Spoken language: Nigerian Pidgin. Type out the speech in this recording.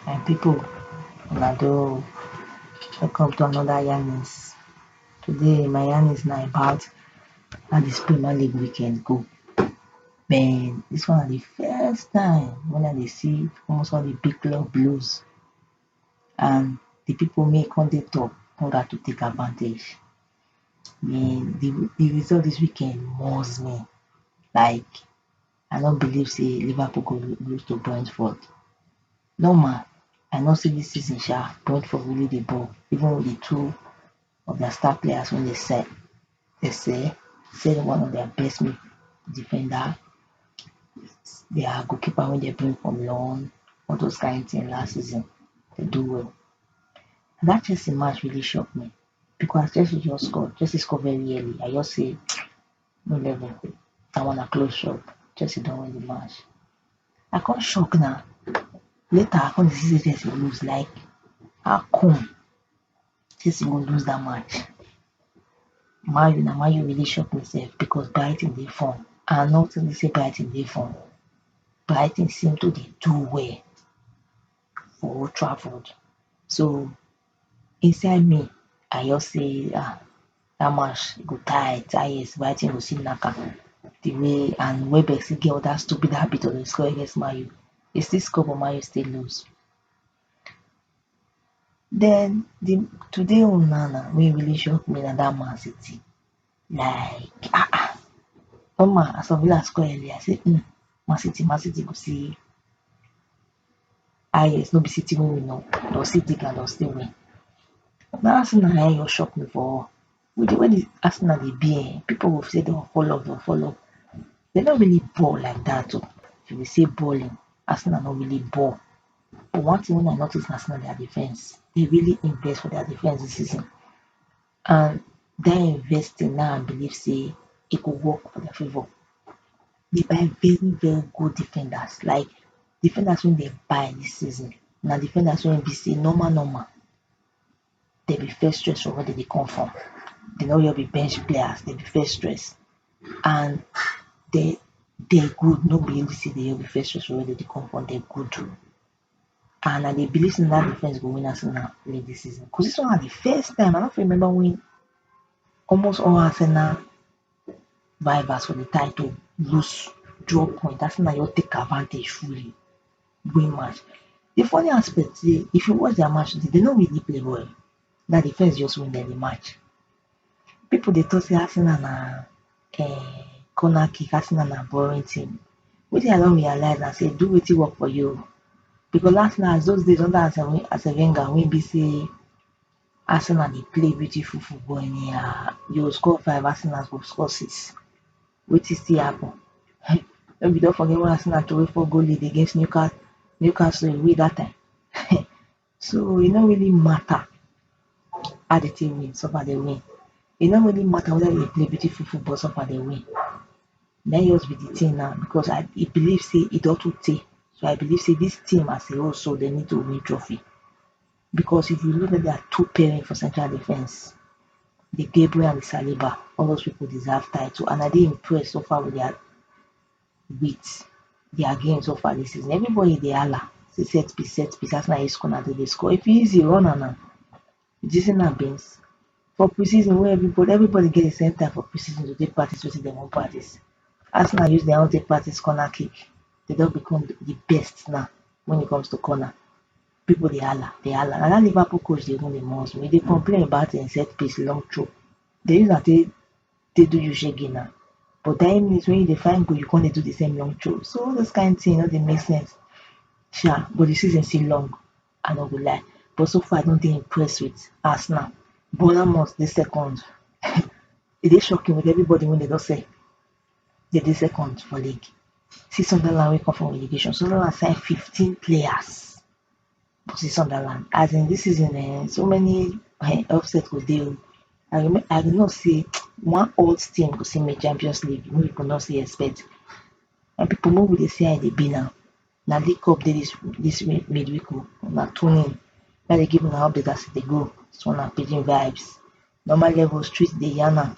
my pipo una do welcome to anoda yarnings today my yarnings na about how dis premier league weekend go den dis one na di first time wey I dey see almost all di big club blues and the people may come dey talk in order to take advantage. And the the result this weekend must me like I no believe say Liverpool go lose to Brentford. Normal I know say this season sha Brentford really dey ball even with the two of their star players wey dey sell dey sell sell one of their best mid defender their goal keeper wey dem bring from loan all those kain thing last season dem do well and that chelsea match really shock me because as chelsea just score chelsea score very early i just say no level that one na close shop chelsea don win the match i come shock na later i come dey see say chelsea lose like how come Chelsea go lose dat match man u na man u really shock me sef because Brighton dey form and I no think sey Brighton dey form Brighton seem to dey do well for Old Trafford so inside me I just sey ah dat match e go tight ah yes Brighton go still knack am de way and Welbeck still get dat stupid habit of dey score against man u e still score but man u still lose Den di today own na na wey really shock me na dat man city like ah ah omo as of last call earlier I say um man city man city go see highest no be city wey we know but city gat still win dat tin na en just shock me for Who dey where dis Arsenal dey be um people go say dem fall off dem fall off dem no really ball like dat oh if you see balling Arsenal no really ball but one thing wey I notice na sey na their defence dem really invest for their defence dis season and dat investing na I believe sey e go work for their favour dey buy very very good defenders like defenders wey dem buy dis season na defenders wey be sey normal normal dem be first stress for where dem dey come from, dem no just be bench players, dem be first stress and dem dem good, no be every season dem just be first stress for where dem dey come from, dem good too and I dey believe sey na dat defence go win Arsenal league dis season cos dis one na di first time, I no fit remember wen almost all Arsenal vibers for the time to loose drop point as na just take advantage fully win match the funny aspect dey if you watch their match today they no really play well na defense just win them the match people dey talk say Arsenal na um corner kick Arsenal na boring team wetin I don realize na say do wetin work for you because Arsenal as those days under Arsene Wenger wey be say Arsenal dey play beautiful football anyhow, dey go score five Arsenal go score six, wetin still happen um no be you don forget wen Arsenal throway four goal lead against Newca Newcastle away dat time um so e no really matter how di team win so far dey win, e no really matter weda dey play beautiful football so far dey win, na im just be di tin now becos I I believe sey e don too tey so I believe sey dis team as a whole so dey need to win trophy. Because if you look at dia two parents for central defence, De Gabriel and Saliba, all those pipu deserve title and I dey impressed so far with dia wit dia game so far dis season. Everybody dey hala say set piece, set piece, as na e score na dem dey score. If e easy, run am na. Did you see na beans? For pre-season wey everybody, everybody get di same time for pre-season to take practice wetin dem wan practice. Arsenal use dia own take practice corner kick, dem don become di best na wen it comes to corner. People dey hala dey hala na dat Liverpool coach dey even dey must me, he dey complain about him set piece long throw, dey use am take take do you shege na, but dying minute wey you dey find goal you come dey do di same long throw, so all those kind thing no dey make sense sha, but di season still long I no go lie, but so far I no dey impressed with Arsenal, Bournemouth dey second, e dey shocking with everybody wey dem don sell, They dey second for league. See Sunderland wey come for relegation. Sunderland sign fifteen players for see Sunderland. As in dis season um so many um upset go dey oh. I rema I dey know sey one odd team go still make champions league wey people no still expect. My people make we dey see how e dey be now. Na league cup dey dis dis mid midweek oh. Una tune in. Make I dey give una update as e dey go. Dis one na pidgin vibes. Normal level street dey yarn am.